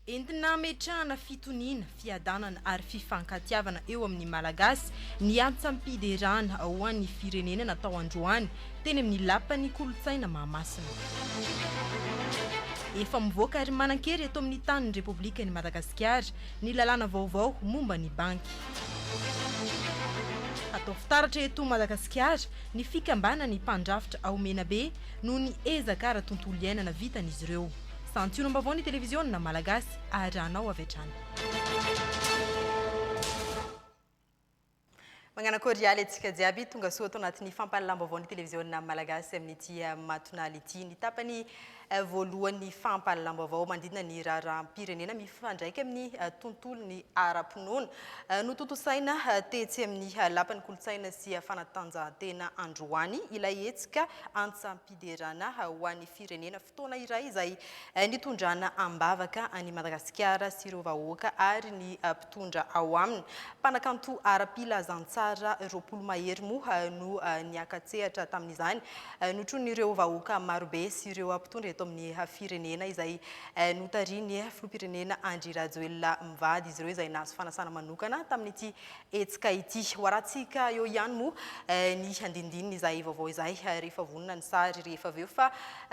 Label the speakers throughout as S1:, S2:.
S1: Entina hametrahana fitoniana, fiadanana ary fifankatiavana eo amin'ny Malagasy ny antsam-piderana ho an'ny firenena natao androany. teny amin'ny Lapan'ny kolontsaina Mahamasina. Efa mivoaka ary manan-kery eto amin'ny tanin'ny Repoblikan'i Madagasikara ny lalàna vaovao momba ny banky. Hatao fitaratra eto Madagasikara ny fikambanan'ny mpandrafitra ao Menabe noho ny ezaka ara-tontolo iainana vitan'izy ireo. Santionam-baovao ny televiziona Malagasy arahanao avy hatrany. Mañana kôrialy antsika jiaby, tonga soa ato anatin'ny fampahalalam-baovaon'ny televiziona malagasy amin'ity matonaly ity. Ny tapany voalohan'ny fampahalalam-baovao manodidina ny raharaham-pirenena mifandraika amin'ny tontolon'ny ara-pinoana no tontosaina tetsy amin'ny lapan'ny kolontsaina sy fanatanjahantena androany ilay hetsika antsam-piderana ho an'ny firenena Fotoana iray izay nitondrana am-bavaka an'i Madagasikara sy ireo vahoaka ary ny mpitondra ao aminy. Mpanakanto ara-pilazantsara roapolo mahery moa no niaka-tsehatra tamin'izany. Notronin'ireo vahoaka marobe sy ireo mpitondra eto amin'ny firenena izay notarihin'ny filoham-pirenena Andry Rajoelina mivady izy ireo izay nahazo fanasana manokana tamin'ity hetsika ity. Ho arahantsika eo ihany moa ny handinindinin' izay vaovao izay rehefa vonona ny sary rehefa avy eo fa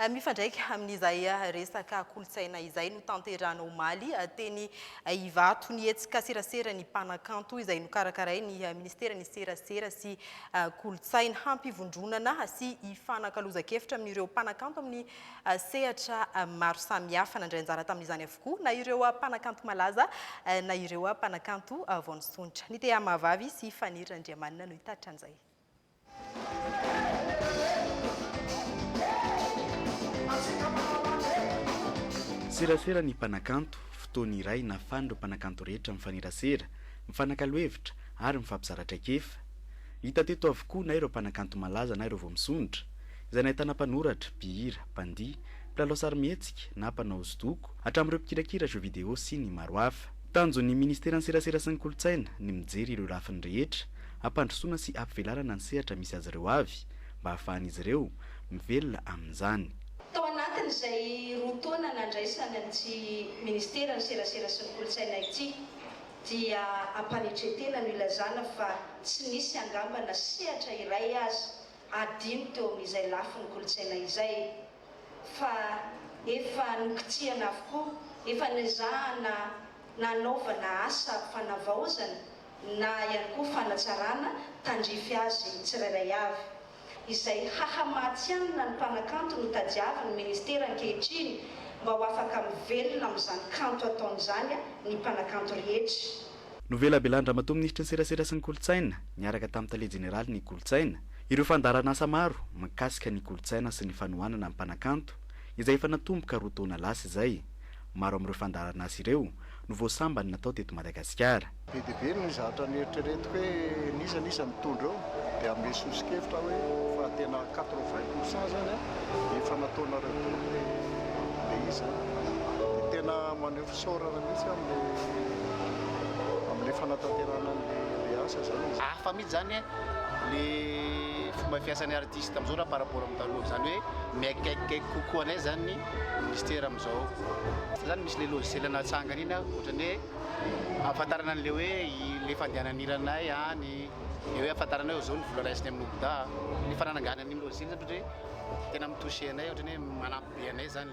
S1: mifandraika amin' izay resaka kolontsaina izay notanterahana omaly teny Ivato ny hetsika Serasera ny Mpanakanto izay nokarakarain' ny Minisiteran' ny Serasera sy Kolontsaina hampivondronana sy hifanakalozan-kevitra amin' ireo mpanakanto amin' ny sehatra maro samihafa. Nandray anjara tamin' izany avokoa. Koa na ireo mpanakanto malaza na ireo mpanakanto vao nisondrotra. Ny tehamahavavy sy Faniry Randriamanana no hitatitra an'izay.
S2: Serasera ny mpanakanto, fotoana iray nahafahan'ireo mpanakanto rehetra mifanerasera, mifanakalo hevitra ary mifampizara traikefa. Hita teto avokoa na ireo mpanakanto malaza na ireo vao misondrotra, izay nahitana mpanoratra, mpihira, mpandihy, mpilalao sarimihetsika na mpanao hosodoko, hatramin'ireo mpikirakira jeux vidéo sy ny maro hafa. Tanjon'ny Ministeran'ny Serasera sy ny Kolontsaina ny mijery ireo lafiny rehetra hampandrosoana sy hampivelarana ny sehatra misy azy ireo avy mba hahafahan'izy ireo mivelona amin'izany. Tao anatin'izay
S3: roa taona nandraisany amin'ity Ministeran'ny Serasera sy ny Kolontsaina ity dia am-panetren-tena no ilazana fa tsy nisy angamba na sehatra iray aza adino teo amin'izay lafiny kolontsaina izay fa efa nokitsihana avokoa, efa nezahana nanaovana asa fanavaozana na ihany koa fanatsarana tandrify azy tsirairay avy. Izay haha-mahatsianina ny mpanakanto no tadiavin'ny Ministera ankehitriny mba ho afaka mivelona amin'izany kanto ataony izany ny mpanakanto rehetra. Novelabelan-dRamatoa
S2: Minisitry ny Serasera sy ny Kolontsaina, niaraka tamin'ny Tale Jeneralin'ny Kolontsaina, ireo fandaharanasa maro mikasika ny kolontsaina sy ny fanohanana ny mpanakanto, izay efa natomboka roa taona lasa izay. Maro amin'ireo fandaharanasa ireo no voasambany natao teto Madagasikara. Be dia be ny
S4: zavatra neritreretiko hoe n'iza n'iza mitondra eo, dia hanome soso-kevitra aho hoe fa tena quatre vingt pour cent izany an, efa nataonareo daholo ilay izy an, dia tena maneho. Misaorara mihitsy amin'ilay amin'ilay fanatanterahana an'ilay asa izany e. Hafa mihitsy izany e,
S5: ilay fomba fiasan'ny artiste amin'izao raha par rapport amin'ny taloha. Izany hoe mihaikaikikaiky kokoa anay izany ny minisitera amin'izao. Izany misy ilay logiciel natsangany iny an, ohatran'ny hoe ahafantarana an'ilay hoe ilay fandehanan'ny hiranay any, ilay hoe ahafantarana hoe izao ny vola raisiny amin'ny OBDA. Ny fanananganana iny logiciel izany ohatran'ny hoe tena mi-toucher anay, ohatran'ny hoe manampy be anay izany.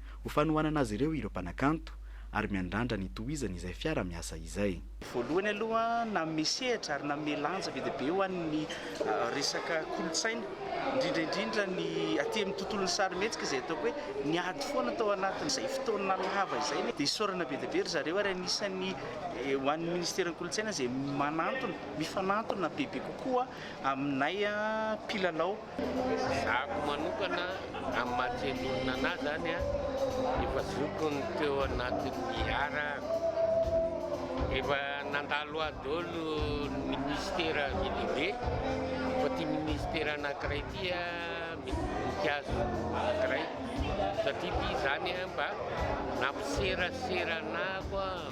S2: Ho fanohanana azy ireo ireo mpanakanto ary miandrandra ny tohizany izay fiara miasa izay. Voalohany aloha
S6: nanome sehatra ary nanome lanja be dia be ho an'ny resaka kolontsaina, indrindra indrindra ny aty amin'ny tontolon'ny sarimihetsika izay ataoko hoe niady foana tao anatin'izay fotoana lava izay. Dia isaorana be dia be ry zareo ary anisan'ny ho an'ny Ministeran'ny Kolontsaina izay manantona, mifanantona bebe kokoa aminay mpilalao. Zako
S7: manokana amin'ny maha tsen'olona anahy zany a, efa zoky ny teo anatin'ny harahako, efa nandalo ahy daholo ny ministera be dia be, fa ity ministera anankiray ity a mikazo anankiray satria ity zany a mba nampiserasera anah koa.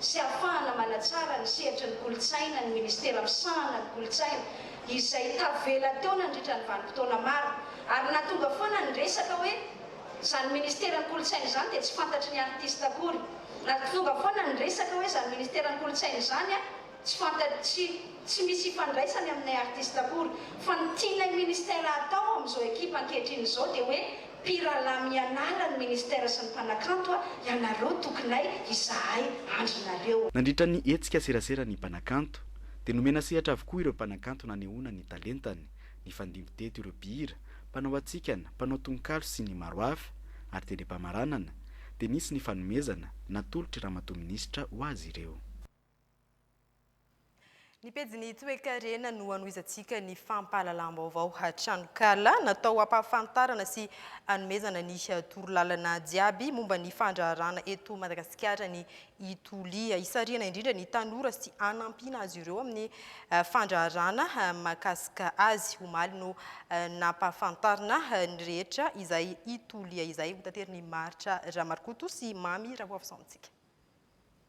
S3: sy ahafahana manatsara ny sehatry ny kolontsaina ny Ministera misahana ny kolontsaina izay tavela teo nandritra ny vanim-potoana maro ary nahatonga foana ny resaka hoe izany Ministera ny kolontsaina izany dia tsy fantatry ny artista akory nahatonga foana ny resaka hoe izany Ministera ny kolontsaina izany a tsy fantatry tsy tsy misy ifandraisany aminay artista akory fa ny tianay Ministera hatao amin'izao ekipa ankehitriny izao dia hoe Mpirahalahy mianara ny ministera sy ny mpanakanto a! Ianareo tokinay izahay andry nareo. Nandritra ny hetsika
S2: serasera ny mpanakanto dia nomena sehatra avokoa ireo mpanakanto nanehoana ny talentany, nifandimby teto ireo mpihira, mpanao hatsikana, mpanao tononkalo sy ny maro hafa ary tele-pamaranana dia nisy ny fanomezana natolotry Ramatoa Minisitra ho azy ireo.
S1: Ny pejin'ny toekarena no hanohizantsika ny fampahalalam-baovao tranonkala natao hampahafantarana sy hanomezana ny torolalana jiaby momba ny fandraharahana eto Madagasikara ny Ituli. Hisarihana indrindra ny tanora sy hanampiana azy ireo amin'ny eh, fandraharahana eh, mahakasika azy. Omaly no eh, nampahafantarina ny rehetra izay Ituli izay ho taterin'i Maritra Ramarokoto sy Mamy Rahoavison amintsika.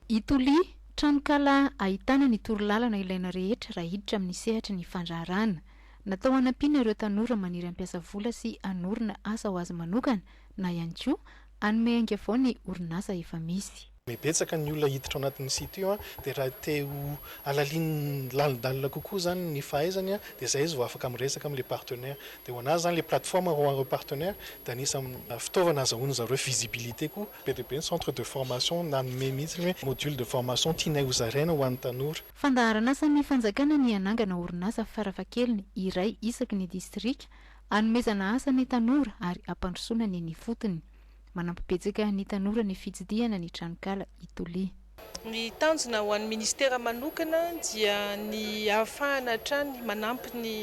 S1: I
S8: Toli, tranonkala ahitana ny torolalana ilaina rehetra raha hiditra amin'ny sehatry ny fandraharahana. Natao hanampiana ireo tanora maniry hampiasa vola sy hanorina asa ho azy manokana na ihany koa hanome ainga vao ny orinasa efa misy. Betsaka ny olona
S9: hiditra ao anatin'io site io dia raha te ho halalin lalindalina kokoa izany ny fahaizany dia izay izy vao afaka miresaka amin'ilay partenaire. Dia ho an'azy izany ilay plateforme, ho an'ireo partenaires dia anisan'ny fitaovana azahoan'izareo visibilité koa Be dia be ny centre de formation nanome mihitsy ny hoe module de formation tianay ho zaraina ho an'ny tanora. Fandaharanasan'ny
S8: fanjakana ny hanangana orinasa farafahakeliny iray isaky ny distrika hanomezana asa ny tanora ary hampandrosoana ny ny fotony. Manampy betsaka ny tanora ny fitsidihana ny tranonkala i Toliha. Ny
S10: tanjona ho an'ny Ministera manokana dia ny hahafahana hatrany manampy ny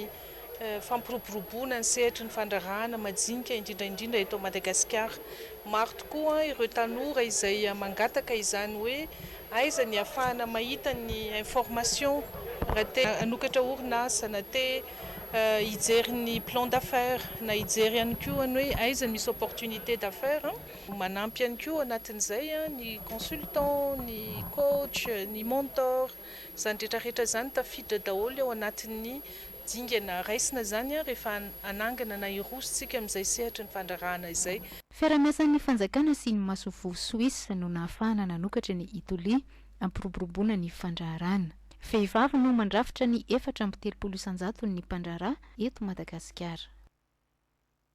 S10: fampiroboroboana ny sehatry ny fandraharahana majinika indrindra indrindra eto Madagasikara. Maro tokoa ireo tanora izay mangataka izany hoe aiza ny hahafahana mahita ny information raha te hanokatra orinasa na te hijery ny plan d'affaires na hijery ihany koa ny hoe aiza misy opportunité d'affaires. Manampy ihany koa ao anatin'izay ny consultant, ny coach, ny mentor, izany rehetra rehetra izany tafiditra daholo ao anatin'ny dingana raisina izany rehefa hanangana na hiroso isika amin'izay sehatry ny fandraharahana izay. Fiaraha-miasan'ny
S8: fanjakana sy ny masoivoho Suisse no nahafahana nanokatra ny Ituli hampiroboroboana ny fandraharahana. Vehivavy no mandrafitra ny efatra amby telopolo isan-jaton'ny mpandraharaha eto Madagasikara.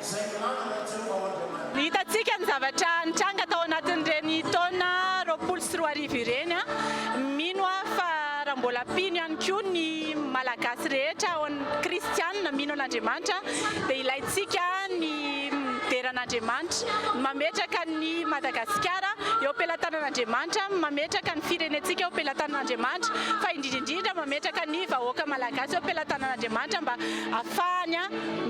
S11: izay nilaza i Jehovah ho Andriamaniny. Hitantsika ny zavatra nitranga tao anatin'ireny taona roapolo sy roa arivo ireny. Mino aho fa raha mbola mpino ihany koa ny Malagasy rehetra, kristiana mino an'Andriamanitra, dia ilaintsika ny midera an'Andriamanitra, ny mametraka an'i Madagasikara eo am-pelatanan'Andriamanitra, ny mametraka ny firenentsika eo am-pelatanan'Andriamanitra, fa indrindra indrindra mametraka ny vahoaka malagasy eo am-pelatanan'Andriamanitra mba afahany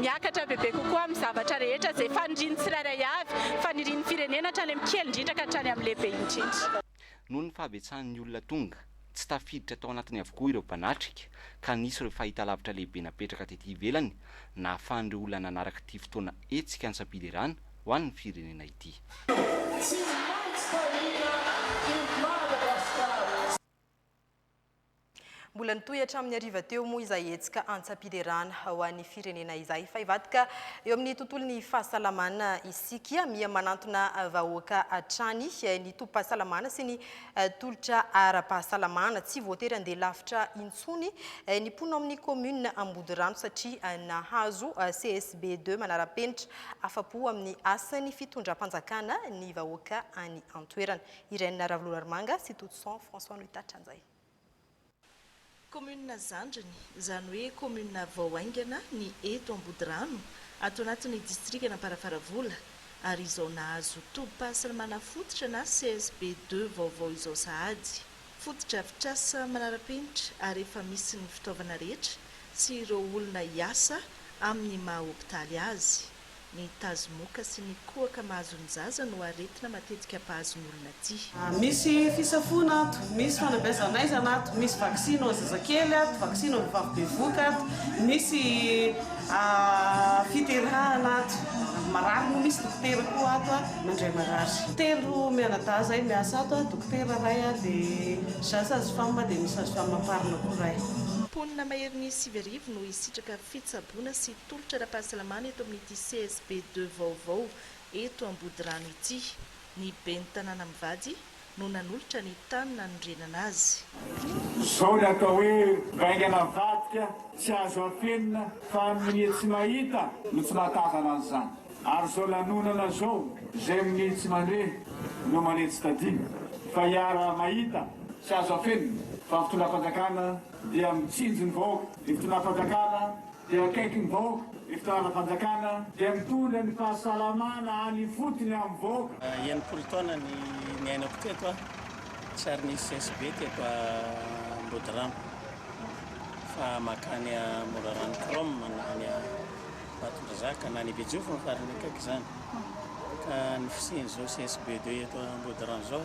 S11: miakatra bebe kokoa amin'ny zavatra rehetra izay fanirian'ny tsirairay avy, fanirian'ny firenena hatrany amin'ny kely indrindra ka hatrany amin'ny lehibe indrindra. Noho ny
S12: fahabetsahan'ny olona tonga, tsy tafiditra tao anatiny avokoa ireo mpanatrika ka nisy ireo fahitalavitra lehibe napetraka tety ivelany nahafahan'ireo olona nanaraka ity fotoana hetsika antsam-piderana ho an'ny firenena ity.
S1: Mbola nitohy hatramin'ny hariva teo moa izay hetsika antsam-piderana ho an'ny firenena izay. Fa hivadika eo amin'ny tontolon'ny fahasalamana isika, miha manantona vahoaka hatrany ny tobim-pahasalamana sy ny tolotra ara-pahasalamana. Tsy voatery handeha lavitra intsony ny mpono ao amin'ny kaominina Ambodirano satria nahazo CSB deux manara-penitra. Afa-po amin'ny asan'ny fitondram-panjakana ny vahoaka any an-toerana. Irène Ravololarimanga sy Totson François no hitatitra an'izay. Kaominina
S13: zandriny, izany hoe kaominina vao haingana ny eto Ambodirano, ato anatin'ny distrikan'Amparafaravola, ary izao nahazo tobim-pahasalamana fototra na CSB deux vaovao izao sahady. Fotodrafitrasa manara-penitra ary efa misy ny fitaovana rehetra sy ireo olona hiasa amin'ny maha-hopitaly azy. Ny tazomoka sy ny kohaka mahazo ny zaza no aretina matetika mpahazo ny olona tia. Misy
S14: fisafoana ato, misy fanabeazan'aizana ato, misy vaksiny ho an'ny zazakely ato, vaksiny ho an'ny vavy bevoka ato, misy fiterahana ato, marary moa misy dokotera koa ato mandray marary. Telo mianadahy izay miasa ato, dokotera iray dia za sage-femme dia misy sage-femme am-parina koa iray. Mponina maherin'ny
S13: sivy arivo no hisitraka fitsaboana sy Tolotra ara-pahasalamana eto amin'ity CSB deux vaovao eto Ambodirano ity. Ny Ben'ny tanàna mivady no nanolotra ny tany nanorenana azy. Izao
S15: ny atao hoe vaingana mivadika tsy azo afenina fa minia tsy mahita no tsy mahatazana an'izany. Ary izao lanonana izao izay minia tsy mandre no mania tsy tadino fa hiara mahita tsy azo afenina fa ny fitondram-panjakana dia mitsinjo ny vahoaka ny fitondram-panjakana. dia akaiky ny vahoaka, ny fitondram-panjakana dia mitondra ny fahasalamana any
S16: ifotony amin'ny vahoaka. Enimpolo taona ny niainako teto a, tsy ary nisy CSB teto Ambodirano fa mankany a Morarano Chrome na any Ambatondrazaka na any Bejofo ny farany akaiky izany ka ny fisian'izao CSB deux eto Ambodirano izao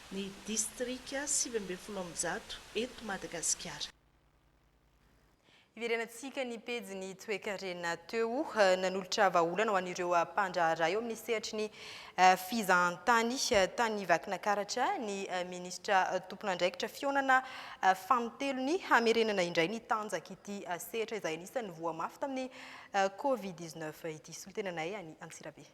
S13: ny distrika sivy ambin'ny folo amby zato eto Madagasikara.
S1: Iverenantsika ny pejin'ny toekarena teo. Nanolotra vahaolana ho an'ireo mpandraharaha eo amin'ny sehatry ny fizahantany tany Vakinakaratra ny minisitra tompon'andraikitra fihaonana fanintelony hamerenana indray ny tanjak'ity sehatra izay anisan'ny voa mafy tamin'ny Covid dix-neuf ity. Solontenanay any Antsirabe.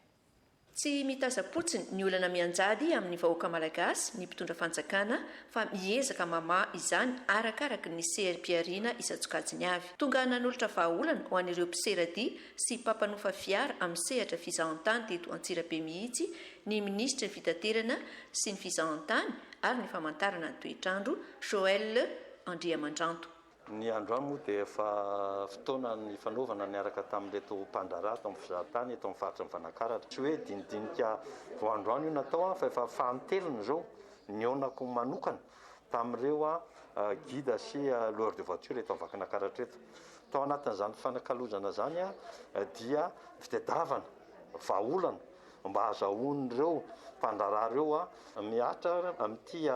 S1: Tsy
S17: mitazam-potsiny ny olana mianjady amin'ny vahoaka malagasy ny mpitondra fanjakana fa miezaka mamaha izany arakaraky ny sehaim-pihariana isan-tsokajiny avy. Tonga nanolotra vahaolana ho an'ireo mpisera-dia sy mpampanofa fiara amin'ny sehatra fizahantany teto Antsirabe mihitsy ny minisitry ny Fitaterana sy ny fizahantany ary ny famantarana ny toetr'andro, Joël Andriamandranto. Ny androany
S18: moa dia efa fotoana nifanaovana niaraka tamin'ireto mpandraharaha eto amin'ny fizahan-tany eto amin'ny faritry ny Valankaratra. Tsy hoe dinidinika vao androany io natao fa efa fanintelony izao nihaonako manokana tamin'ireo guide sy loueur de voiture eto Vakinankaratra eto. Tao anatin'izany fifanakalozana izany dia fitadiavana vahaolana mba hahazahoan'ireo mpandraharaha ireo mihatra amin'ity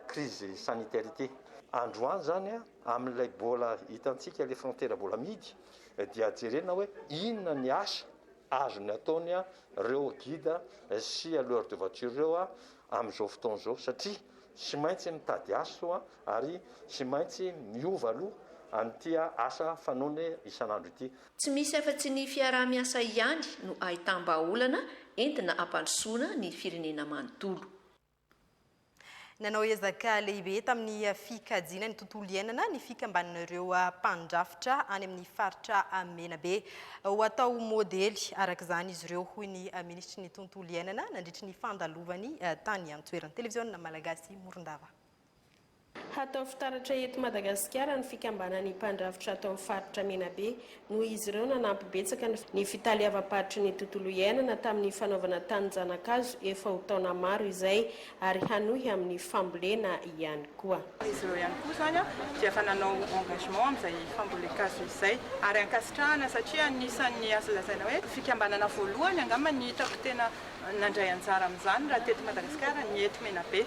S18: crise sanitaire ity. Androany zany amin'ilay bola hitantsika le frontera bola mihidy dia jerena hoe inona ny asa azony atao ny reo guide sy loueur de voiture reo amin'izao fotoana izao satria tsy maintsy mitady aso ary tsy maintsy miova aloha an'ity asa fanaony isan'andro ity. Tsy misy afa-tsy
S17: ny fiaraha-miasa ihany no ahitam-bahaolana entina hampandrosoana ny firenena manontolo.
S1: Nanao ezaka lehibe tamin'ny fikajiana ny tontolo iainana ny fikambanan'ireo mpandrafitra any amin'ny faritra Menabe. Ho atao ho modely araka izany izy ireo, hoy ny minisitry ny tontolo iainana nandritry ny fandalovany tany an-toerana. Televiziona Malagasy Morondava.
S19: Hatao fitaratra eto Madagasikara ny fikambanan'ny mpandrafitra ato amin'ny faritra Menabe. Noho izy ireo nanampy betsaka ny fitaleavam-paritry ny tontolo iainana tamin'ny fanaovana tanin-janakazo efa ho taona maro izay ary hanohy amin'ny fambolena ihany koa. Izy ireo ihany koa izany
S20: dia efa nanao engagement amin'izay fambolen-kazo izay ary ankasitrahana satria anisan'ny azo lazaina hoe fikambanana voalohany angamba ny hitako tena nandray anjara amin'izany raha teto Madagasikara ny eto Menabe.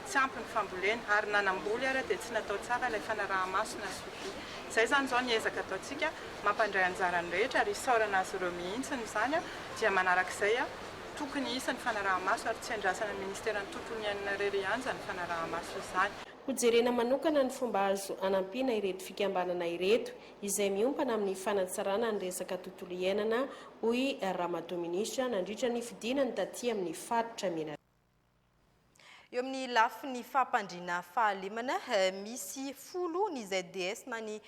S20: tsy ampy ny fambolena ary na namboly ary dia tsy natao tsara ilay fanaraha-maso na suivi. Izay izany izao ny ezaka ataontsika mampandray anjara ny rehetra ary isaorana azy ireo mihitsy ny izany dia manaraka izay tokony hisy ny fanaraha-maso ary tsy andrasana ny ministeran'ny tontolo iainana irery hianja ny fanaraha-maso izany. Ho jerena manokana
S19: ny fomba azo anampiana ireto fikambanana ireto izay miompana amin'ny fanatsarana ny resaka tontolo iainana hoy Ramatoa Minisitra nandritra ny fidinany taty amin'ny faritra Menaratra.
S1: Eo amin'ny lafiny fampandriana fahalemana, misy folo ny ZDS na ny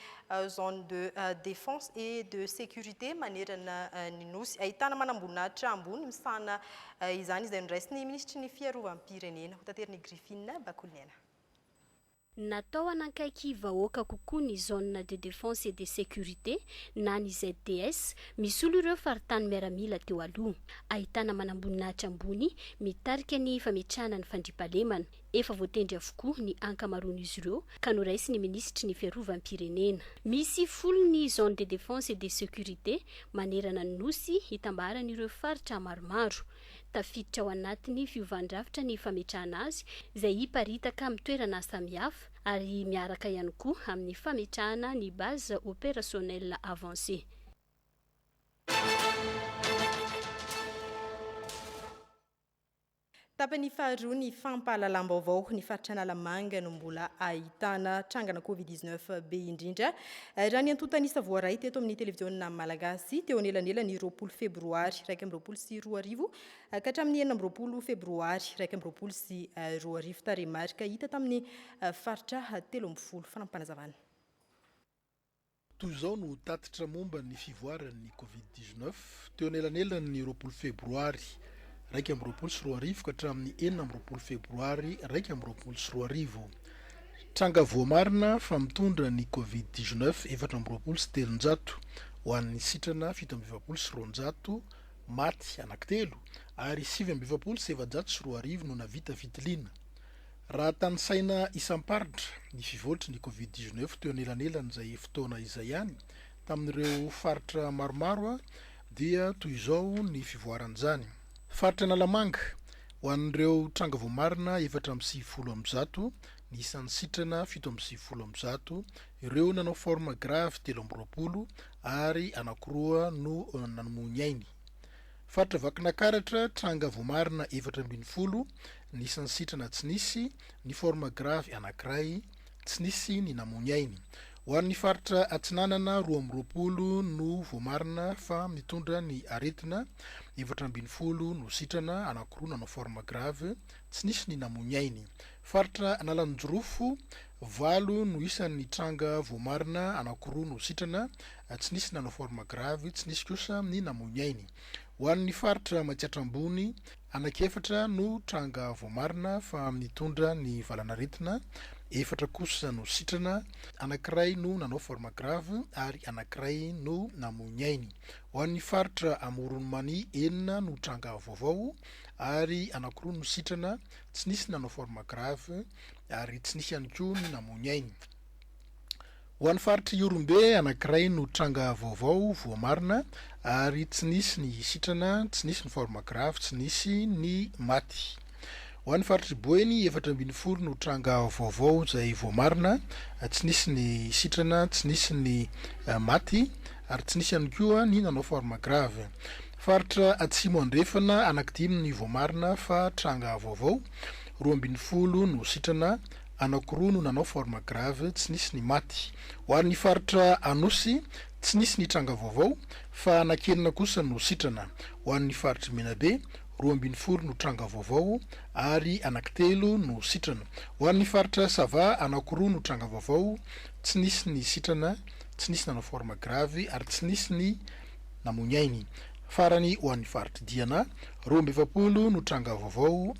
S1: Zone de Défense et de Sécurité manerana ny Nosy. Ahitana manamboninahitra ambony misahana izany izay noraisin'ny Minisitry ny Fiarovam-pirenena. Hotaterin'i Griffine Bakoliniaina.
S21: Natao hanakaiky vahoaka kokoa ny Zone de Defense et de Sécurité na ny ZDS misolo ireo faritany miaramila teo aloha. Ahitana manamboninahitra ambony mitarika ny fametrahana ny fandriampahalemana. Efa voatendry avokoa ny ankamaroan'izy ireo ka noraisin'ny minisitry ny Fiarovam-pirenena. Misy folo ny Zone de Defense et de Sécurité manerana ny Nosy hitambaran'ireo faritra maromaro. Tafiditra ao anatin'ny fiovan-drafitra ny fametrahana azy, izay hiparitaka amin'ny toerana samihafa, ary miaraka ihany koa amin'ny fametrahana ny Base Opérationnelle Avancée.
S1: Tapany faharoa ny fampahalalam-baovao, ny faritra Analamanga no mbola ahitana trangana Covid dix-neuf be indrindra. Raha ny antontan'isa voaray teto amin'ny televiziona malagasy, teo anelanelan'ny roapolo febroary iraika amby roapolo sy roa arivo ka hatramin'ny enina amby roapolo febroary iraika amby roapolo sy roa arivo, tarehimarika hita tamin'ny faritra telo ambin'ny folo. Fanampim-panazavana.
S9: Toy izao no tatitra momba ny fivoaran'ny Covid dix-neuf teo anelanelan'ny roapolo febroary iraika amby roapolo sy roa arivo ka hatramin'ny enina amby roapolo febroary iraika amby roapolo sy roa arivo. Tranga voamarina fa mitondra ny Covid dix neuf efatra amby roapolo sy telonjato ho an'ny sitrana fito amby efapolo sy roanjato maty anankitelo ary sivy amby efapolo sy efajato sy roa arivo no navita fitiliana. Raha tanisaina isam-paritra ny fivoltry ny Covid dix neuf teo anelanelan'izay fotoana izay ihany, Tamin'ireo faritra maromaro dia toy izao ny fivoaran'izany. Faritra Analamanga, ho an'ireo tranga voamarina efatra amby sivifolo amby zato, ny isan'ny sitrana fito amby sivifolo amby zato, ireo nanao forme grave telo amby roapolo ary anankiroa no nanomoa ny ainy. Faritra Vakinakaratra, tranga voamarina efatra ambin'ny folo, ny isan'ny sitrana tsy nisy, ny forme grave anankiray, Tsy nisy ny namoy ainy. Ho an'ny faritra Atsinanana, roa amby roapolo no voamarina fa mitondra ny aretina, efatra ambin'ny folo no sitrana, anankiroa nanao forme grave, tsy nisy ny namoy ny ainy. Faritra Analanjirofo, valo no isan'ny tranga voamarina, anankiroa no sitrana, tsy nisy nanao forme grave, tsy nisy kosa ny namoy ny ainy. Ho an'ny faritra Matsiatra Ambony, Anankiefatra no tranga voamarina fa nitondra ny valanaretina, efatra kosa no sitrana, anankiray no nanao forme grave ary anankiray no namoy ny ainy. Ho an'ny faritra Amoron'i Mania, enina no tranga vaovao ary anankiroa no sitrana, tsy nisy nanao forme grave ary tsy nisy ihany koa ny namoy ny ainy. Ho an'ny faritr'i Ihorombe anankiray no tranga vaovao voamarina ary tsy nisy ny sitrana, tsy nisy ny forme grave, tsy nisy ny maty. Ho an'ny faritr'i Boeny efatra ambin'ny folo no tranga vaovao izay voamarina, tsy nisy ny sitrana, tsy nisy ny maty ary tsy nisy ihany koa ny nanao forme grave. Faritra Atsimo Andrefana anankidimy ny voamarina fa tranga vaovao, roa ambin'ny folo no sitrana anakiroa no nanao forme grave tsy nisy ny maty. Ho an'ny faritra Anosy tsy nisy ny tranga vaovao fa anankenina kosa no sitrana. Ho an'ny faritr'i Menabe, roa ambin'ny folo no tranga vaovao ary anakitelo no sitrana. Ho an'ny faritra Sava, anakiroa no tranga vaovao tsy nisy ny sitrana, tsy nisy nanao forme grave ary tsy nisy ny namoy ny ainy. Farany ho an'ny faritr'i Diana, roa amby efapolo no tranga vaovao,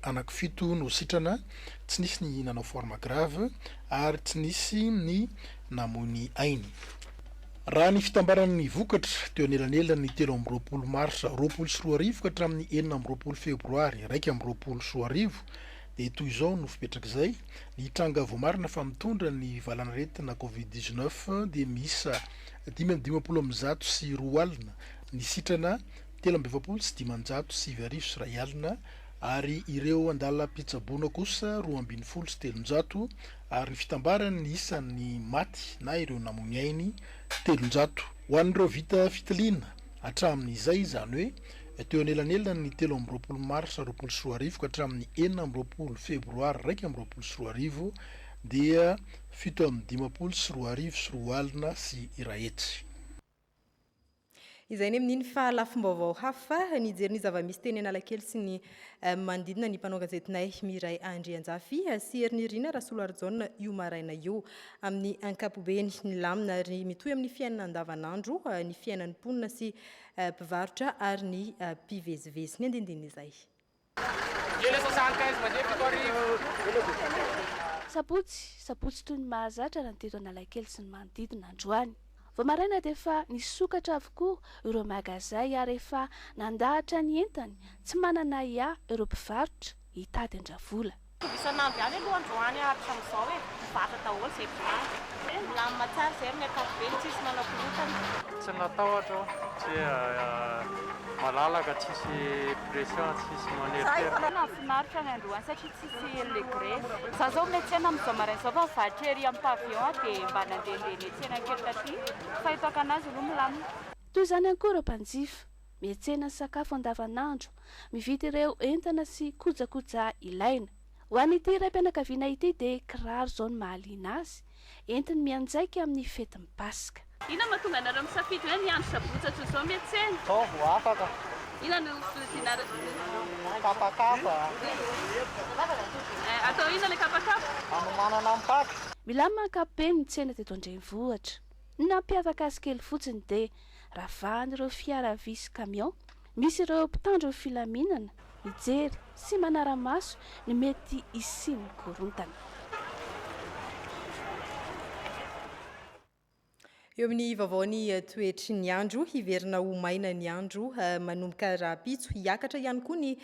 S9: anakifito no sitrana. tsy nisy ny nanao forme grave ary tsy nisy ny namoy ny ainy. Raha ny fitambaran'ny vokatra, teo anelanelan'ny telo amby roapolo marsa roapolo sy roa arivo ka hatramin'ny enina amby roapolo febroary iraika amby roapolo sy roa arivo, dia toy izao no fipetrak'izay, Ny tranga voamarina fa mitondra ny valanaretina covid dix neuf dia miisa dimy amby dimampolo amin'ny zato sy roa alina, ny sitrana telo amby efapolo sy dimanjato sy sivy arivo sy iray alina, ary ireo an-dalam-pitsaboana kosa roa ambin'ny folo sy telonjato, ary ny fitambaran' ny isan' ny maty na ireo namoy ainy, telonjato. Ho an' ireo vita fitiliana hatramin' izay, izany hoe teo anelanelan' ny telo amby roapolo marsa roapolo sy roa arivo ka hatramin' ny enina amby roapolo febroary iraika amby roapolo sy roa arivo, dia fito amby dimampolo sy roa arivo sy roa alina sy iray hetsy.
S1: Izay ny amin'iny fa lafim-baovao hafa, nijery ny zava-misy teny Analakely sy ny manodidina ny mpanao gazetinay Miray Andrianjafy sy Herinirina Rasolarijaona io maraina io. Amin'ny ankapobeny, nilamina ary mitohy amin'ny fiainana andavanandro ny fiainan'ny mponina sy mpivarotra ary ny mpivezivezy. Ny andinindininy izay.
S4: Sabotsy, sabotsy toy ny mahazatra raha ny teto Analakely sy ny manodidina androany. Vao maraina dia efa nisokatra avokoa ireo magazay ary efa nandahatra ny entany, tsy manana ahiahy ireo mpivarotra hitady an-dravola.
S5: Mitovy isan'andro ihany aloha
S22: androany ary hatramin'izao e, mibata daholo izay volana. Milamina tsara izay amin'ny ankapobeny, tsisy manao korontana. Tsy natahotra aho satria malalaka, tsisy pression, tsisy maneritery. Nahafinaritra ny androany
S5: satria tsisy le grevy. Za zao miatsena amin'izao maraina izao fa mivarotra ery amin'ny pavillon aho dia mba nandehandeha niatsena kely taty fa eto Akanazy aloha milamina. Toy izany ihany koa
S4: ireo mpanjifa. miantsena sakafo andavanandro, mividy ireo entana sy kojakoja ilaina. Ho an'ity raim-pianakaviana ity dia kiraro izao no mahaliana azy, entiny mianjaika amin'ny fetin'ny Paska. Inona no mahatonga anareo
S5: misafidy hoe ny andro sabotsy toy izao miantsena? Izao vao afaka.
S22: Inona no
S5: vidianareo?
S22: Kapakapa.
S5: Atao inona ilay kapakapa? Hanomanana ny
S22: Paska. Milamina ankapobeny
S4: ny tsena teto an-drenivohitra. Ny nampiavaka azy kely fotsiny dia ravahan'ireo fiara vy sy camion misy ireo mpitandro ny filaminana mijery sy manara-maso ny mety hisian'ny korontana.
S1: Eo amin'ny vaovao ny toetry ny andro, hiverina ho maina ny andro manomboka rahampitso, hiakatra ihany koa ny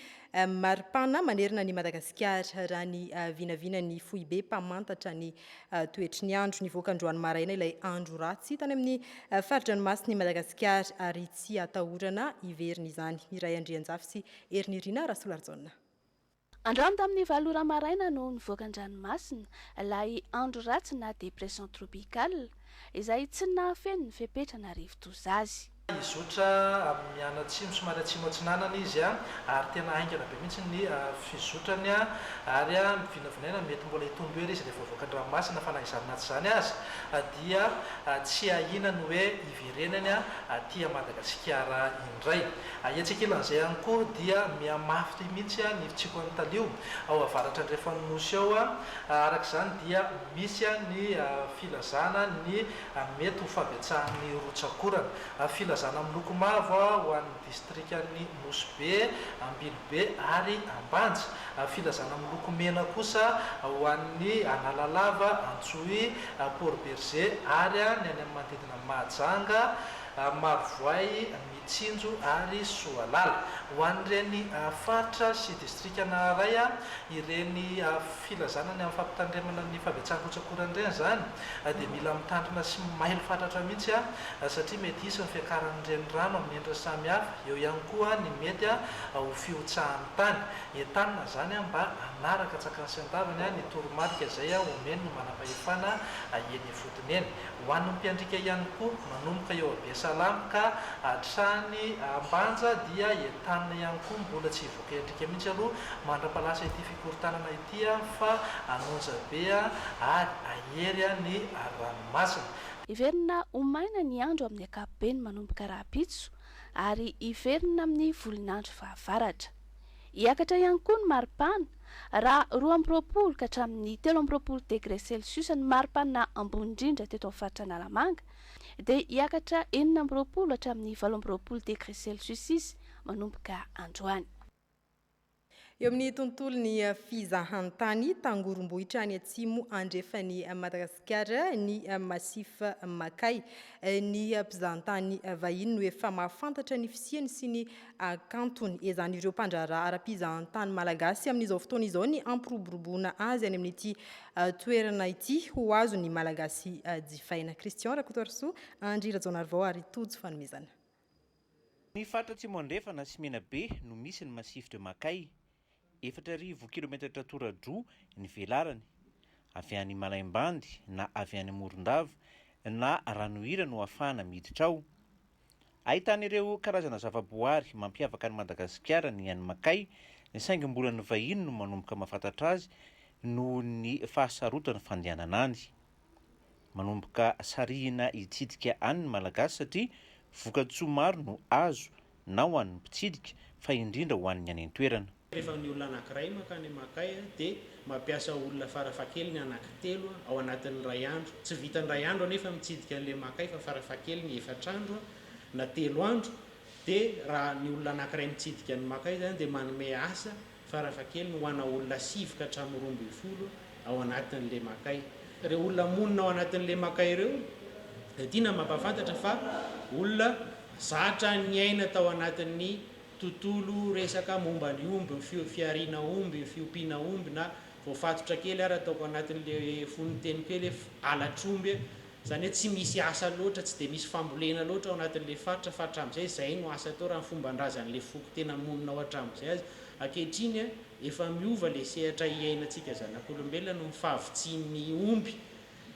S1: maripana manerana an'i Madagasikara, raha ny vinavina ny foibe mpamantatra ny Toetry ny andro, nivoaka androany maraina ilay andro ratsy tany amin'ny fari-dranomasin'i Madagasikara ary tsy atahorana hiverina izany. Miray Andrianjafy sy Herinirina Rasolarijaona.
S4: Androany tamin'ny valo ora maraina no nivoaka an-dranomasina ilay andro ratsy na dépression tropicale izay tsy nahafeno ny fepetra na rivodoza azy. Hizotra
S3: amin'ny mianatsimo somary atsimo atsinanana izy ary tena haingana be mihitsy ny fizotrany ary mivinavinaina mety mbola hitombo hery izy rehefa voavoaka an-dranomasina fa na izany na tsy izany aza dia tsy ahiana ny hoe hiverenany aty Madagasikara indray. Etsy ankilan'izay ihany koa dia mihamafy mihitsy ny fitsiokan'ny talio ao avaratra andrefan'ny Nosy ao, araka izany dia misy ny filazana ny. ary mety ho fahabetsahan'ny rotsak'orana. A Filazana miloko mavo ho an'ny distrikan'ny Nosy Be, Ambilobe ary Ambanja. A Filazana miloko mena kosa ho an'ny Analalava, Antsohihy, Port Bergé ary ny any amin'ny manodidina an'i Mahajanga, Marovoay, Tsinjo ary Soalala. Ho an'ireny faritra sy distrika naharay ireny filazana ny amin'ny fampitandremana ny fahabetsahan-kotsakorana ireny izany dia mila mitandrina sy mailo fatratra mihitsy satria mety hisy ny fiakaran'ny renirano amin'ny endriny samihafa. Eo ihany koa ny mety ho fihotsahan'ny tany. Entanina izany mba hanaraka an-tsakany sy an-tavany ny toromarika izay omen'ny manam-pahefana eny ifotoana. Dinihana. Ho an'ny mpiandrika ihany koa, manomboka eo Abiasalam ka hatrany Ambanja dia entanina ihany koa, mbola tsy hivoaka endrika mihitsy aloha mandra-palasa ity fikorontanana ity fa hanonja be ary hahery ny ranomasina. Hiverina
S4: ho maina ny andro amin'ny ankapobeny manomboka rahampitso ary hiverina amin'ny volon'andro fahavaratra. Hiakatra ihany koa ny maripana, raha roa amby roapolo ka hatramin'ny telo amby roapolo degre celsius ny maripana ambony indrindra teto amin'ny faritra Analamanga, dia hiakatra enina amby roapolo hatramin'ny valo amby roapolo degre celsius izy manomboka androany.
S1: Eo amin'ny tontolon'ny fizahantany, tangorombohitra any atsimo andrefan'i Madagasikara ny Massif Makay. Ny mpizahantany vahiny no efa mahafantatra ny fisiany sy ny hakantony ezan'ireo mpandraharaha ara-pizahantany malagasy amin'izao fotoana izao ny hampiroboroboana azy any amin'ity toerana ity ho azon'ny malagasy jifaina. Christian Rakotoarisoa, Andry Rajaonarivao ary Tojo Fanomezana.
S6: Ny faritra Atsimo Andrefana sy Menabe no misy ny Massif de Makay. Efatra arivo kilometatra tora-droa ny velarany. Avy any Malaimbandy na avy any Morondava na Ranohira no ahafahana miditra ao. Ahitana ireo karazana zavaboary mampiavaka an'i Madagasikara ny any Makay, saingy mbola ny vahiny no manomboka mahafantatra azy noho ny fahasarotan'ny fandehanana any. Manomboka sarihina hitsidika any ny Malagasy satria vokatsoa maro no azo na ho an'ny mpitsidika fa indrindra ho an'ny any an-toerana. Rehefa ny olona anankiray
S7: mankany Amakay dia mampiasa olona farafahakeliny anankitelo ao anatin'ny iray andro. Tsy vitan'ny iray andro anefa mitsidika an'ilay Amakay fa farafahakeliny efatra andro na telo andro dia raha ny olona anankiray mitsidika an'i Makay izany dia manome asa farafahakeliny ho ana olona sivy ka hatramin'ny roa ambin'ny folo ao anatin'ny lemakay. Ireo olona monina ao anatin'ny lemakay ireo dia tiana mampahafantatra fa olona zatra niaina tao anatin'ny tontolo resaka momba ny omby, ny fihariana omby, ny fiompiana omby na voafatotra kely ary ataoko anatin'ilay fonon-teniko eo ilay halatr'omby Izany hoe tsy misy asa loatra, tsy dia misy fambolena loatra ao anatin'ilay faritra fa hatramin'izay izay no asa atao raha ny fomban-drazan'ilay foko tena monina ao hatramin'izay aza. Ankehitriny, efa miova ilay sehatra iainantsika zanak'olombelona noho ny fahavitsian'ny omby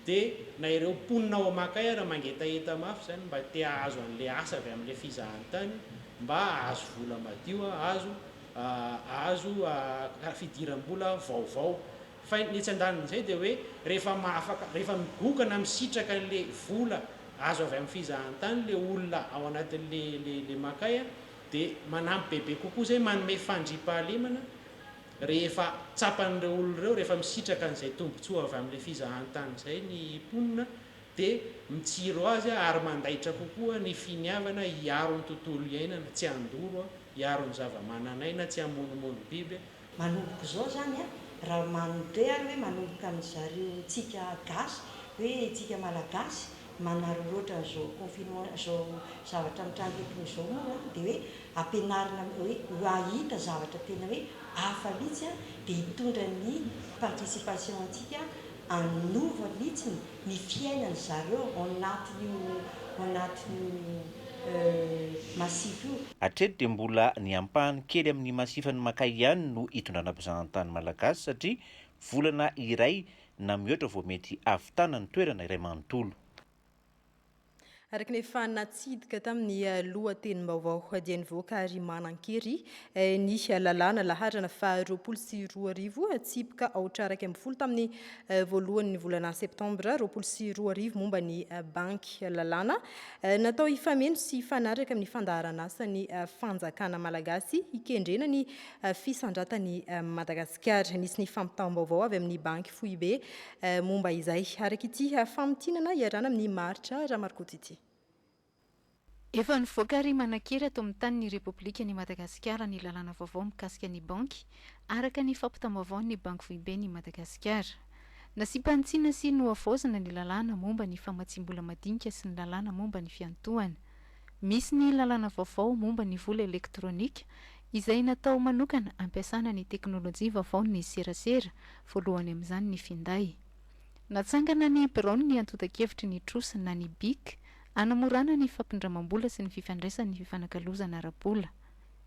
S7: dia na ireo mponina ao Amakay ary mangetaheta mafy izany mba te hahazo an'ilay asa avy amin'ilay fizahantany mba hahazo vola madio, hahazo hahazo fidiram-bola vaovao. Fa ny etsy andanin'izay dia hoe rehefa mahafaka, rehefa migoka na misitraka an'ilay vola azo avy amin'ny fizahantany ilay olona ao anatin'ilay makay dia manampy bebe kokoa izay, manome fandriampahalemana rehefa tsapan'ireo olona ireo, rehefa misitraka an'izay tombontsoa avy amin'ilay fizahantany izay ny mponina dia mitsiro azy ary mandaitra kokoa ny finiavana hiaro ny tontolo iainana, tsy handoro, hiaro ny zava-manan'aina, tsy hamonomono biby, Manomboka izao
S23: zany a, raha manontr ary hoe manomboka amin'ny zareo tsika gasy hoe tsika malagasy manaroro otrany zao confinement zao zavatra mitranga eto moa zao moa a de hoe ampianarina hoe ho ahita zavatra tena hoe hafa mitsy a de hitondra ny participation antsika hanova mitsy ny ny fiainany zareo ao anatin'io ao anatin'io masif io. Hatreto dia mbola
S6: ny ampahany kely amin'ny masifan'i Makay ihany no hitondrana mpizahan-tany malagasy satria volana iray na mihoatra vao mety hahavitana ny toerana iray manontolo.
S1: Araka ny efa natsidika tamin'ny lohatenim-baovao dia nivoaka ary manan-kery ny lalàna laharana faha roapolo sy roa arivo tsipika aotra iraika ambin'ny folo tamin'ny voalohan'ny volana septambra roapolo sy roa arivo momba ny banky lalàna natao hifameno sy hifanaraka amin'ny fandaharan'asan'ny fanjakana malagasy hikendrena ny fisandratan'i Madagasikara. Nisy ny fampitam-baovao avy amin'ny banky foibe Eh, momba izay, araka ity famintinana iarana amin'i Maharitra Ramarkoto ity.
S2: Efa nivoaka ary manan-kery ato amin'ny tanin'ny Repoblikan'i Madagasikara ny lalàna vaovao mikasika ny banky, araka ny fampitam-baovaon'ny Banky Foiben'i Madagasikara. Nasiam-panitsiana sy nohavaozina ny lalàna momba ny famatsiam-bola madinika sy ny lalàna momba ny fiantohana. Misy ny lalàna vaovao momba ny vola elektronika, izay natao manokana hampiasana ny teknolojia vaovaon'ny serasera, voalohany amin'izany ny finday. Natsangana ny biraon'ny antontan-kevitry ny trosa na ny bic, hanamorana ny fampindramam-bola sy ny fifandraisan'ny fifanakalozana ara-bola.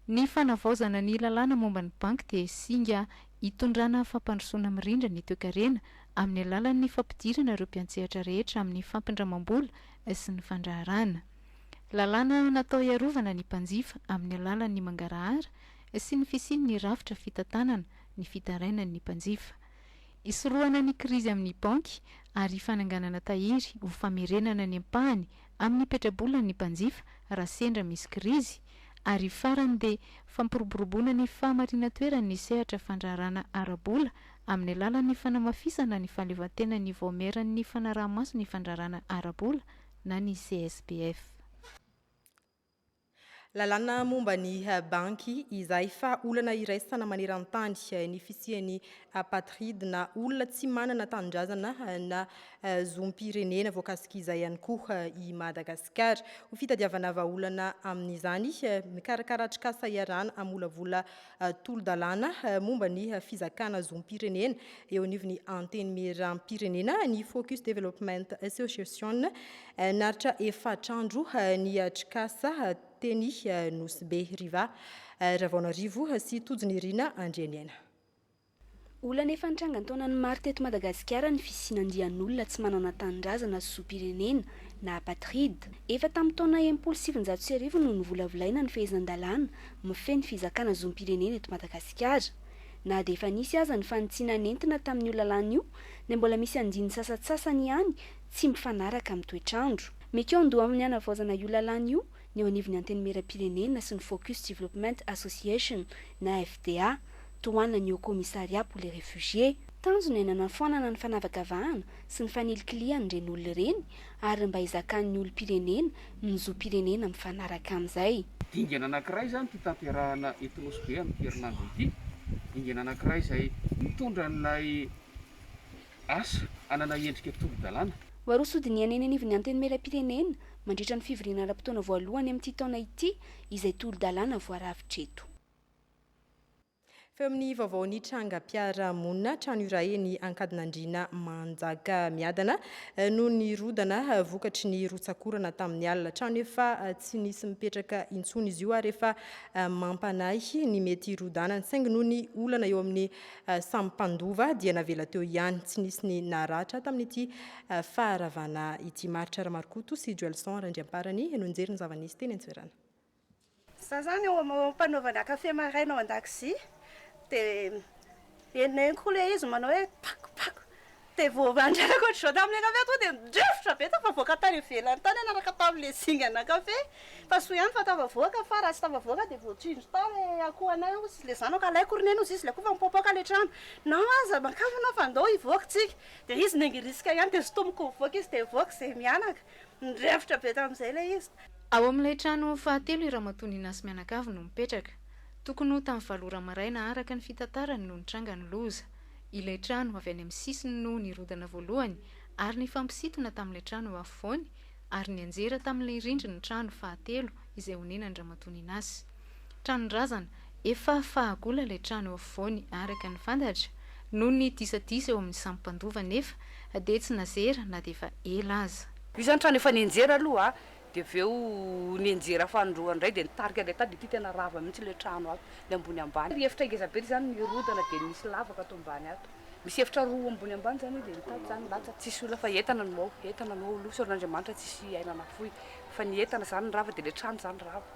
S2: Ny fanavaozana ny lalàna momba ny banky dia singa hitondrana fampandrosoana mirindra ny toekarena amin'ny alalan'ny fampidirana ireo mpiantsehatra rehetra amin'ny fampindramam-bola sy ny fandraharahana. Lalàna natao hiarovana ny mpanjifa amin'ny alalan'ny mangarahara sy ny fisian'ny rafitra fitantanana ny fitarainan'ny mpanjifa. Hisorohana ny krizy amin'ny banky ary fananganana tahiry ho famerenana ny ampahany Amin'ny petrabola ny mpanjifa raha sendra misy krizy, ary farany dia fampiroboroboana ny fahamarinan-toeran'ny sehatra fandraharana ara-bola amin'ny alalan'ny fanamafisana ny fahaleovantenan'ny Vaomieran'ny Fanaraha-maso ny Fandraharana Ara-bola na ny CSPF.
S1: Lalàna momba ny banky izay fa olana iraisana maneran-tany ny fisian'ny apatride na olona tsy manana tanindrazana na zom-pirenena voakasik'izay ihany koa i Madagasikara. Ho fitadiavana vahaolana amin'izany, mikarakara atrikasa iarahana hamolavola tolo-dalàna momba ny fizakana zom-pirenena eo anivon'ny Antenimierampirenena ny Focus Development Association naritra efatr'andro ny Trikasa teny Nosy Be Riva Ravaonarivo sy Tojo Nirina Andrianiaina.
S4: Olana efa nitranga ny taonany maro teto Madagasikara ny fisian'andian'olona tsy manana tanindrazana sy zom-pirenena na apatride. Efa tamin'ny taona enimpolo sy sivinjato sy arivo no novolavolaina ny fehezan-dalàna mifehy ny fizakana zom-pirenena eto Madagasikara. Na dia efa nisy aza ny fanitsiana nentina tamin'io lalàna io dia mbola misy andininy sasantsasany ihany tsy mifanaraka amin'ny toetr'andro. Mikaon-doha amin'ny hanavaozana io lalàna io ny eo anivon'ny Antenimierampirenena sy ny Focus Development Association na FDA. tohanan'ny Haut Commissariat pour les Réfugiés. Tanjona ny hanafoanana ny fanavakavahana sy ny fanilikilihan'ireny olona ireny ary mba hizakan'ny olom-pirenena ny zom-pirenena mifanaraka amin'izay. Dingana anankiray
S8: izany ity tanterahana eto Nosy Be amin'ity herinandro ity. Dingana anankiray izay mitondra an'ilay asa hanana endrika tolo-dalàna. Ho aroso ho dinihana eny
S4: anivon'ny Antenimierampirenena mandritra ny fivoriana ara-potoana voalohany amin'ity taona ity izay tolo-dalàna voarafitra eto.
S1: Feo amin'ny vaovao ny trangam-piarahamonina trano iray eny Ankadinandriana Manjakamiadana no nirodana vokatry ny rotsak'orana tamin'ny alina. Trano efa tsy nisy mipetraka intsony izy io ary efa mampanahy ny mety hirodanany saingy noho ny olana eo amin'ny samy mpandova dia navela teo ihany. Tsy nisy ny naratra tamin'ity faharavana ity. Maharitra Ramarikoto sy Joelson Randriamparany no nijery ny zava-nisy teny an-toerana. Za
S10: zany eo am panaovana kafe maraina ao andakozia de henonenoko koa le izy manao hoe pako pako de vao andrarako otrzao tamle kafe tonga de midrivotra be tafavoaka tafavoaka tany ivelany tany niaraka tamle zingana kafe fa soa ihany fa tafavoaka fa raha tsy tafavoaka de voatsindry tao le akoho anay ozy sy le zanako alaiko ry neny ozy izy le akoho fa mipoapoaka le trano na aza makafy anao fa ndao hivoaka tsika de izy nengirisika ihany de sintomiko mivoaka izy de mivoaka ze mianaka Nirefitra be tamin'izay ilay izy. Ao amin'ilay trano
S2: fahatelo i Ramatoa Nina sy mianakavy no mipetraka. Tokony ho tamin'ny valo ora maraina araka ny fitantarany no nitranga ny loza. Ilay trano avy any amin'ny sisiny no nirodana voalohany ary nifampisintona tamin'ilay trano eo afovoany ary nianjera tamin'ilay rindrin'ny trano fahatelo izay onenan'i Ramatoa Nina sy Tranon-drazana, efa fahagola ilay trano eo afovoany araka ny fantatra, noho ny disadisa eo amin'ny samy mpandova anefa
S10: dia
S2: tsy nazera
S10: na
S2: dia efa
S10: ela
S2: aza.
S10: Misy
S2: zany trano
S10: efa
S2: nianjera aloha dia
S12: avy eo nianjera fanindroany indray dia nitarika ilay tady ity tena rava mihitsy ilay trano ato ny ambony ambany ary efitra ngeza be izany nirodana dia nisy lavaka ato ambany ato misy efitra roa ambony ambany izany dia nitady izany nilatsaka tsisy olona fa entana no ao entana no ao aloha sorona Andriamanitra tsisy aina nafoy fa ny entana izany ny rava dia ilay trano izany rava.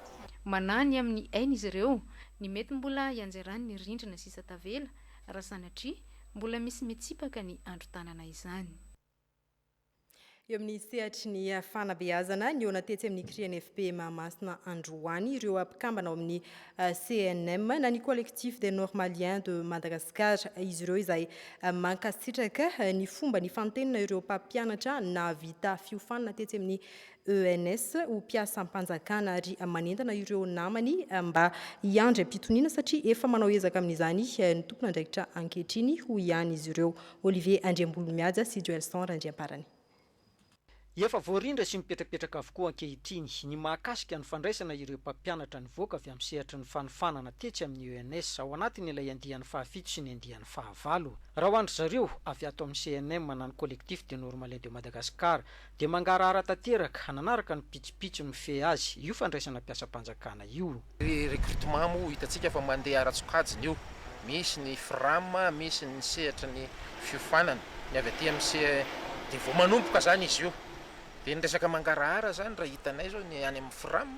S12: Manahy ny amin'ny
S2: ainy izy ireo ny mety mbola hianjeran'ny rindrina sisa tavela, raha sanatria mbola misy mitsipaka ny andron-tanana izany.
S1: Eo amin'ny sehatry ny fanabeazana, nihaona tetsy amin'ny CRINFP Mahamasina androany ireo mpikambana ao amin'ny CNM na ny Collectif des Normaliens de Madagascar. Izy ireo izay mankasitraka ny fomba nifantenina ireo mpampianatra nahavita fiofanana tetsy amin'ny ENS ho mpiasam-panjakana ary manentana ireo namany mba hiandry am-pitoniana satria efa manao ezaka amin'izany ny tompon'andraikitra ankehitriny, hoy ihany izy ireo. Olivier Andriambololimihaja sy Joelson Randriamparany.
S11: Efa voarindra sy mipetrapetraka avokoa ankehitriny ny mahakasika ny fandraisana ireo mpampianatra nivoaka avy amin'ny sehatry ny fanofanana tetsy amin'ny ENS ao anatiny ilay andiany fahafito sy ny andiany fahavalo. Raha ho an-dry zareo, avy ato amin'ny CNM na ny Collectif des Normaliens de Madagascar Dia mangarahara tanteraka, hananaraka ny pitsopitso mifehy azy io fandraisana mpiasam-panjakana io. Ny recrutement moa
S14: hitantsika fa mandeha ara-tsokajiny io. Misy ny Fram, misy ny sehatry ny fiofanana, ny avy aty amin'ny se dia vao manomboka izany izy io. Dia ny resaka mangarahara izany raha hitanay izao ny any amin'ny Fram.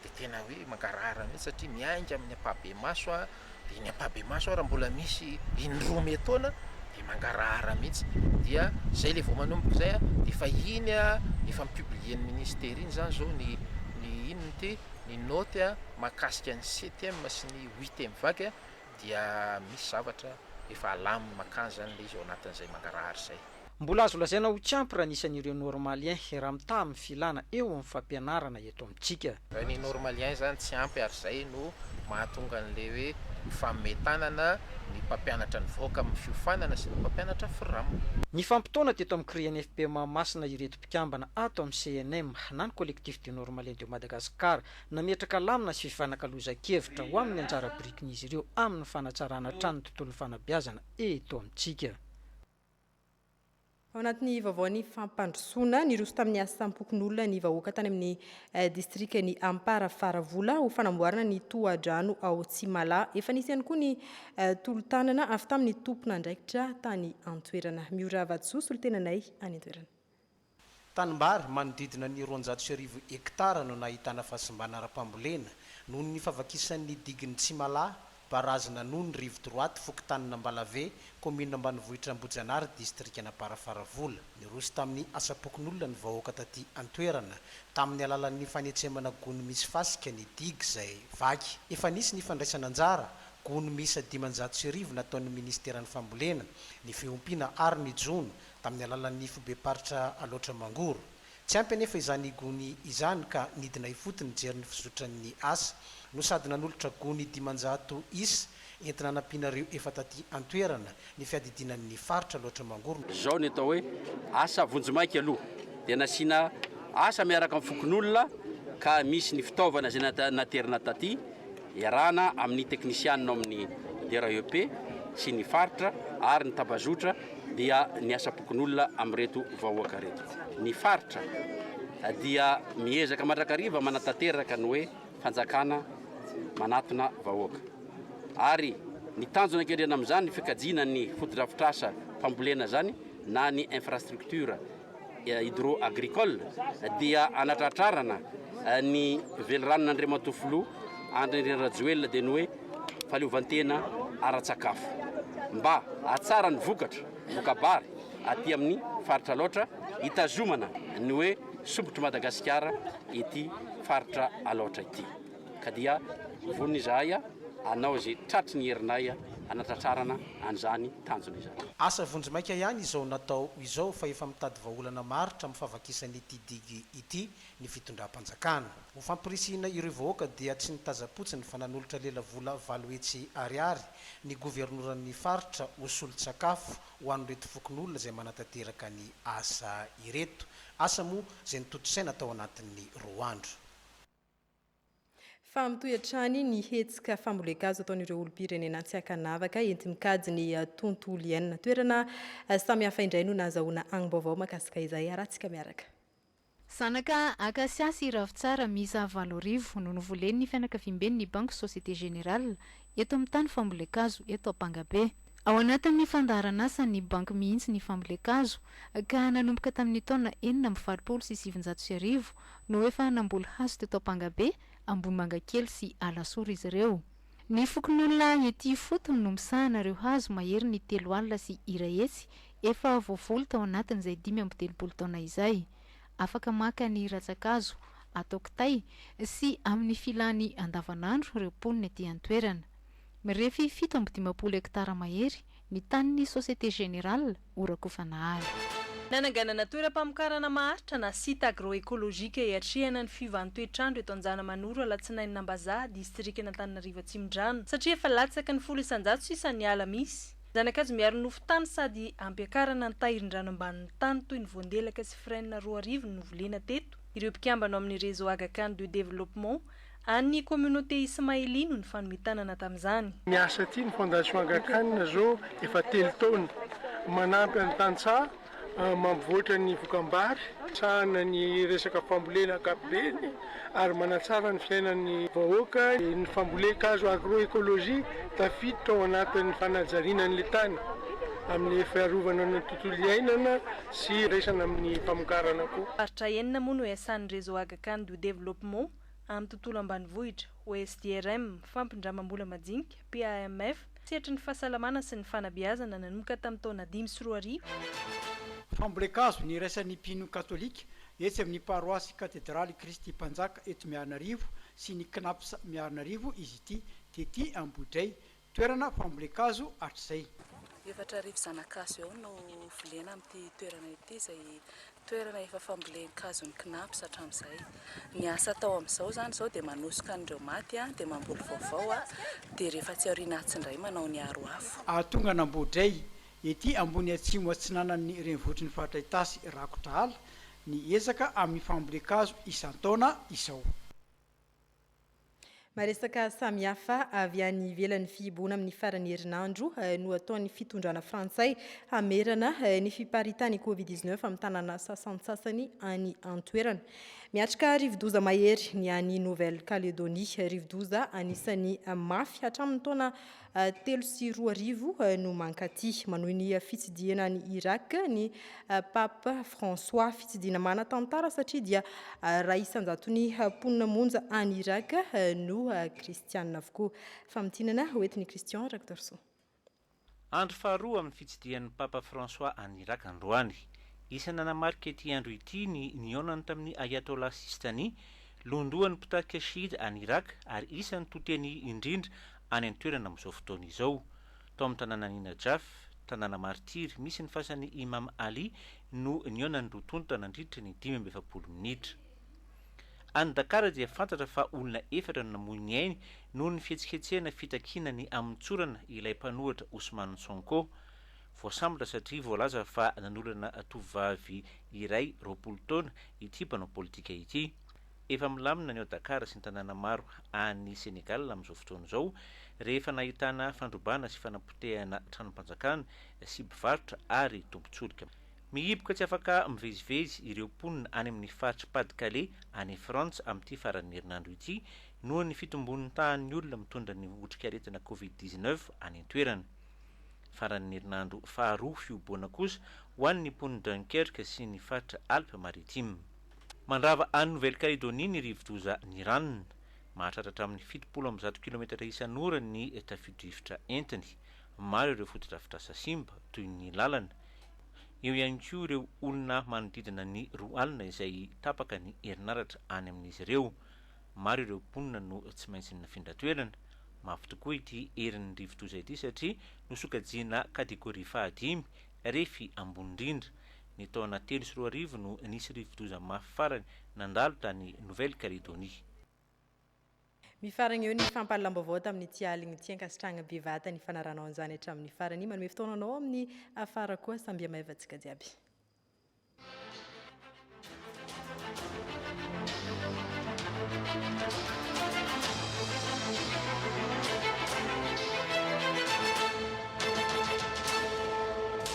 S14: dia tena hoe mangarahara mihitsy satria miainga amin'ny ampahibemaso aho, dia iny ampahibemaso ary mbola misy in-droa ome taona dia mangarahara mihitsy, dia zay le vao manomboka izay an, dia efa iny an, efa mi-publier ny ministera iny zany zao ny ny inona ity, ny naoty an mahakasika ny septième sy ny huitième vague dia misy zavatra efa alaminy makany zany le izy ao anatin'izay mangarahara izay. Mbola azo lazaina
S11: ho tsy ampy raha ny isan'ireo Normaliens hiara-mitaha amin'ny filana eo amin'ny fampianarana eto amintsika. Raha ny Normaliens
S14: izany tsy ampy ary izay no mahatonga an'ilay hoe mifamehy tanana ny mpampianatra nivoaka amin'ny fiofanana sy ny mpampianatra Fram. Nifampitaona
S11: teto amin'ny CRINFP Mahamasina ireto mpikambana ato amin'ny CNM na ny Collectif des Normaliens de Madagascar. Nametraka lamina sy fifanakalozan-kevitra ho amin'ny anjara birikin'izy ireo amin'ny fanatsarana hatrany ny tontolon'ny fanabeazana eto amintsika.
S1: Ao anatin'ny vaovaon'ny fampandrosoana, niroso tamin'ny asam-pokonolona ny vahoaka tany amin'ny eh, distrikan'i Ampara Faravola ho fanamboarana ny tohadrano ao Tsimala. Efa nisy ihany koa ny eh, tolo-tanana avy tamin'ny tompon'andraikitra tany an-toerana. Miora Vatosoa, solontenanay any an-toerana. Tanimbary
S15: manodidina ny roanjato sy arivo hektara no nahitana fahasimbana ara-pambolena noho ny fahavakisan'ny digin'i Tsimalahy, Barazy Nanony, Rive Droite, fokontanin'Ambalave, kaominina ambanivohitra Ambohijanahary, distrikan'Amparafaravola. Niroso tamin'ny asam-pokonolona ny vahoaka taty an-toerana tamin'ny alalan'ny fanetsemana gony misy fasika ny digy izay vaky. Efa nisy ny fandraisana anjara gony miisa dimanjato sy arivo nataon'ny Ministeran'ny Fambolena, ny Fiompiana ary ny Jono tamin'ny alalan'ny fobem-paritra Alaotra Mangoro. Tsy ampy anefa izany gony izany ka nidina ifotony nijery ny fizotran'ny asa no sady nanolotra gony dimanjato isa entina hanampiana ireo efa taty an-toerana ny fiadidiana ny faritra Alaotra Mangoro. Izao ny atao hoe
S24: asa vonjimaika aloha dia nasiana asa miaraka amin'ny fokonolona ka misy ny fitaovana izay naterina taty. Iarahana amin'ny teknisianina ao amin'ny DREP sy ny faritra ary ny tambazotra dia ny asam-pokonolona amin'ireto vahoaka ireto. Ny faritra dia miezaka mandrakariva manatanteraka ny hoe fanjakana manatona vahoaka. Ary ny tanjona an-kendrena amin'izany ny fikajiana ny fotodrafitrasa fambolena izany na ny infrastructure hydro-agricole dia hanatratrarana ny veliranon'Andriamatoa Filoha Andry Nirina Rajoelina dia ny hoe fahaleovantena ara-tsakafo mba hahatsara ny vokatra, voka-bary, aty amin'ny faritra Alaotra hitazomana ny hoe sompitr'i Madagasikara ity faritra Alaotra ity. ka dia vonona izahay hanao izay tratry ny herinay hanatratrarana an'izany tanjona izany. Asa vonjimaika ihany
S15: izao natao izao fa efa mitady vahaolana maharitra amin'ny fahavakisan'ity digue ity ny fitondram-panjakana. Ho fampirisihina ireo vahoaka dia tsy nitazam-potsiny fa nanolotra lela vola valo hetsy ariary ny governoran'ny faritra ho solon-tsakafo ho an'ireto fokonolona izay manatanteraka ny asa ireto. Asa moa izay nitontosaina tao anatin'ny roa andro.
S1: Fa mitohy hatrany ny hetsika fambolen-kazo ataon'ireo olom-pirenena tsy ankanavaka enti-mikajy ny tontolo iainana. Toerana samihafa indray no nahazahoana angom-baovao mahakasika izay. Harahantsika miaraka. Zanaka
S2: Akasia sy Ravintsara miisa valo arivo no novolen'ny fianakaviamben'ny Banky Société Générale eto amin'ny tany fambolen-kazo eto Ampangabe. Ao anatin'ny fandaharan'asan'ny Banky mihitsy ny fambolen-kazo ka nanomboka tamin'ny taona enina amby valopolo sy sivinjato sy arivo no efa namboly hazo teto Ampangabe, Ambohimangakely sy Alasora izy ireo. Ny fokonolona ety ifotony no misahana ireo hazo maherin'ny telo alina sy iray hetsy efa voavoly tao anatin'izay dimy amby telopolo taona izay. Afaka maka ny ratsan-kazo atao kitay sy amin'ny filàny andavanandro ireo mponina ety an-toerana. Mirefy fito amby dimampolo hektara mahery ny tanin'ny Société Générale ho rakofanahary. Nananganana
S13: toeram-pamokarana maharitra na site agro-écologique hiatrehana ny fiovahan'ny toetr'andro eto Anjanamanoro alatsinainy Nambazaha, distrikan'Antananarivo Atsimondrano, satria efa latsaky ny folo isan-jato sisa ny ala misy. Zana-kazo miaro nofo tany sady ampiakarana ny tahirin-drano ambanin'ny tany toy ny voandelaka sy frêne roa arivo no volena teto. Ireo mpikambana ao amin'ny Réseau Aga Khan de Développement an'ny Communauté Ismaili no nifanome tanana tamin'izany. Miasa aty ny Fondation
S16: Aga Khan zao efa telo taona. Manampy an'ny tantsaha. mampivoatra ny vokambaary, misahana ny resaka fambolena ankapobeny ary manatsara ny fiainan'ny vahoaka. Ny fambolen-kazo agro-ecologie tafiditra ao anatin'ny fanajariana an'ilay tany amin'ny fiarovana ny tontolo iainana sy iraisana amin'ny famokarana koa. Faritra enina moa no
S13: iasan'ny Réseau Aga-Khan du Développement amin'ny tontolo ambanivohitra, OSDRM, fampindramam-bola majinika, PAMF, sehatry ny fahasalamana sy ny fanabeazana nanomboka tamin'ny taona dimy sy roa arivo.
S25: Fambolen-kazo niraisan'ny mpino katolika etsy amin'ny paroasy Katedraly Kristy Mpanjaka eto Miarinarivo sy ny Cnaps Miarinarivo izy ity tety Ambohidrahy, toerana fambolen-kazo hatrizay. Efatra arivo
S17: zanakazo eo no volena amin'ity toerana ity izay Toerana efa fambolen-kazon'ny Cnaps hatramin'izay. Ny asa atao amin'izao izany izao dia manosoka an'ireo maty dia mamboly vaovao dia rehefa tsy aoriana atsy indray manao ny aro afo. Hahatonga an'Ambodray,
S25: ety ambony atsimo atsinanan'ny renivohitry ny faritra Itasy rakotra ala ny ezaka amin'ny fambolen-kazo isan-taona izao.
S1: Maresaka samihafa avy any ivelan'ny fihibohana amin'ny faran'ny herinandro eh, no ataon'ny fitondrana frantsay hamerana eh, ny fiparitan'ny Covid-19 amin'ny tanàna sasantsasany any an-toerana. Miatrika rivodoza mahery ny any Nouvelle-Calédonie, rivodoza anisan'ny mafy hatramin'ny taona telo sy roa arivo no mankaty. Manohy ny fitsidihana any Irak ny Pape François. Fitsidihana manan-tantara satria dia iray isan-jaton'ny mponina monja any Irak no kristianina avokoa. Famintinana hoentin'i Christian Rakotoarisoa.
S6: Andro faharoa amin'ny fitsidihan'ny Papa François any Irak androany. Isan'ny nanamarika ity andro ity ny nihaonany tamin'ny Ayatollah Sistani, lohandohan'ny mpitarika Shi'ite any Irak ary isan'ny to-teny indrindra any an-toerana amin'izao fotoana izao. Tao amin'ny tanànan'i Najaf, tanàna martiry misy ny fasan'i Imam Ali no nihaonan'ny roa tonta nandritra ny dimy amby efapolo minitra. Any Dakar dia fantatra fa olona efatra no namoy ny ainy noho ny fihetsiketsehana fitakiana ny hamotsorana ilay mpanohitra Ousmane Sonko. Voasambotra satria voalaza fa nanolana tovovavy iray roapolo taona ity mpanao politika ity. Efa milamina ny ao Dakar sy ny tanàna maro any Senegal amin'izao fotoana izao rehefa nahitana fandrobana sy fanapotehana tranom-panjakana sy mpivarotra ary tompon-tsolika. Mihiboka tsy afaka mivezivezy ireo mponina any amin'ny faritr'i Pas-de-Calais any Frantsa amin'ity faran'ny herinandro ity noho ny fitombon'ny tahan'ny olona mitondra ny otrikaretina covid dix-neuf any an-toerana. Faran'ny herinandro faharoa fihoboana kosa ho an'ny mponin'i Dunkerque sy ny faritra Alpes Maritimes. Mandrava an'i Nouvelle Calédonie ny rivodoza Niran. Mahatratra hatramin'ny fitopolo amby zato kilometatra isan'ora ny tafio-drivotra entiny. Maro ireo fotodrafitrasa simba, toy ny lalana. Eo ihany koa ireo olona manodidina ny roa alina izay tapaka ny herinaratra any amin'izy ireo. Maro ireo mponina no tsy maintsy nifindra toerana. Mafy tokoa ity herin'ny rivodoza ity satria nosokajiana kategoria fahadimy, refy ambony indrindra. Ny taona telo sy roa arivo no nisy rivodoza mafy farany nandalo tany Nouvelle Calédonie.
S1: Mifaragna eo ny fampahalalam-baovao tamin'ity aligny ity. Ankasitrahagna bevata ny fanarahanao an'izany hatramin'ny farany. Manome fotoana anao amin'ny afara koa. Sambia maiva antsika jiaby.